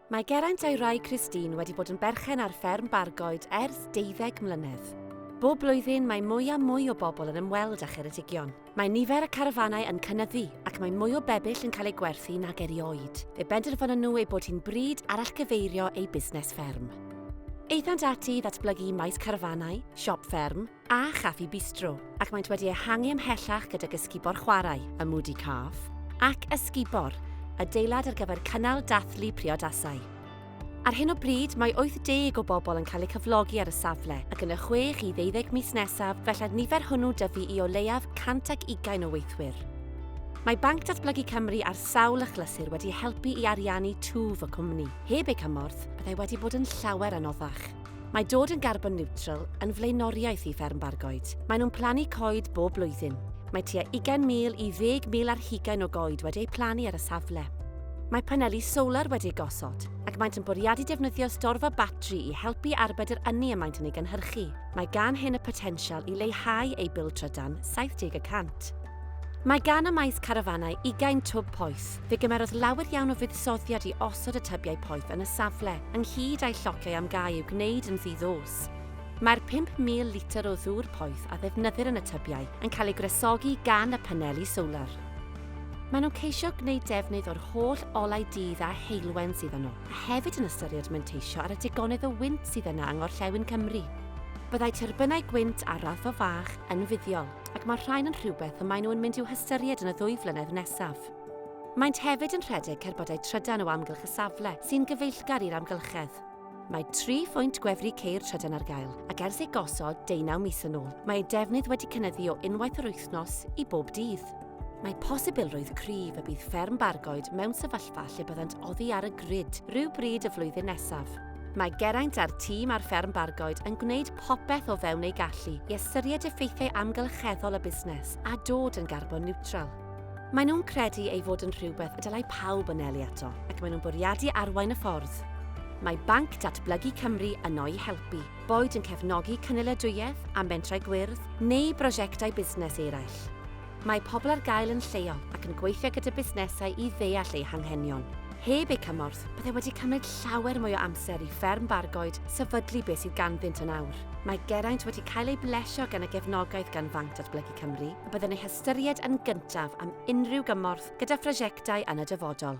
Mae Geraint a'i wraig Christine wedi bod yn berchen ar fferm Bargoed ers deuddeg mlynedd. Bob blwyddyn mae mwy a mwy o bobl yn ymweld â Cheredigion. Mae nifer y carafanau yn cynyddu ac mae mwy o bebyll yn cael eu gwerthu nag erioed. Fe benderfynon nhw ei bod hi'n bryd arallgyfeirio eu busnes fferm. Aethant ati i ddatblygu maes carafanau, siop fferm, a Chaffi Bistro, ac maent wedi ehangu ymhellach gydag Ysgubor Chwarae, y Moody Calf, ac Ysgubor, adeilad ar gyfer cynnal dathlu priodasau. Ar hyn o bryd, mae 80 o bobl yn cael eu cyflogi ar y safle, ac yn y chwech i ddeuddeg mis nesaf fella'r nifer hwnnw dyfu i o leiaf 120 o weithwyr. Mae Banc Datblygu Cymru ar sawl achlysur wedi helpu i ariannu twf y cwmni. Heb eu cymorth, byddai wedi bod yn llawer anoddach. Mae dod yn garbon niwtral yn flaenoriaeth i Fferm Bargoed. Maen nhw'n plannu coed bob blwyddyn. Mae tua 20,000 i 10,000 ar hugain o goed wedi eu plannu ar y safle. Mae paneli solar wedi eu gosod, ac maent yn bwriadu defnyddio storfa batri i helpu arbed yr ynni y maent yn ei gynhyrchu. Mae gan hyn y potensial i leihau eu bil trydan 70 y cant. Mae gan y maes carafanau ugain twb poeth, Fe gymerodd lawer iawn o fuddsoddiad i osod y tybiau poeth yn y safle, ynghyd â'i llociau am gau i'w gwneud yn ddi-ddos. Mae'r 5,000 litr o ddŵr poeth a ddefnyddir yn y tybiau yn cael ei gwresogi gan y paneli solar. Maen nhw'n ceisio gwneud defnydd o'r holl olau dydd a heulwen sydd yno, a hefyd yn ystyried manteisio ar y digonedd o wynt sydd yna yng ngorllewin Cymru. Byddai tyrbynau gwynt ar raddfa fach yn fuddiol, ac mae'r rhain yn rhywbeth y maen nhw yn mynd i'w hystyried yn y ddwy flynedd nesaf. Maent hefyd yn rhedeg cerbydau trydan o amgylch y safle, sy'n gyfeillgar i'r amgylchedd. Mae tri phwynt gwefru ceir trydan ar gael, ac ers eu gosod deunaw mis yn ôl, mae eu defnydd wedi cynyddu o unwaith yr wythnos i bob dydd. Mae posibilrwydd cryf y bydd fferm Bargoed mewn sefyllfa lle byddant oddi ar y grid rhyw bryd y flwyddyn nesaf. Mae Geraint a'r tîm ar fferm Bargoed yn gwneud popeth o fewn eu gallu i ystyried effeithiau amgylcheddol y busnes a dod yn garbon niwtral. Maen nhw'n credu ei fod yn rhywbeth y dylai pawb anelu ato ac maen nhw'n bwriadu arwain y ffordd. Mae Banc Datblygu Cymru yno i helpu, boed yn cefnogi cynaliadwyedd a mentrau gwyrdd neu brosiectau busnes eraill. Mae pobl ar gael yn lleol ac yn gweithio gyda busnesau i ddeall eu hanghenion. Heb eu cymorth, byddai wedi cymryd llawer mwy o amser i Fferm Bargoed sefydlu beth sydd ganddynt yn awr. Mae Geraint wedi cael ei blesio gan y gefnogaeth gan Fanc Datblygu Cymru y byddwn ei hystyried yn gyntaf am unrhyw gymorth gyda phrosiectau yn y dyfodol.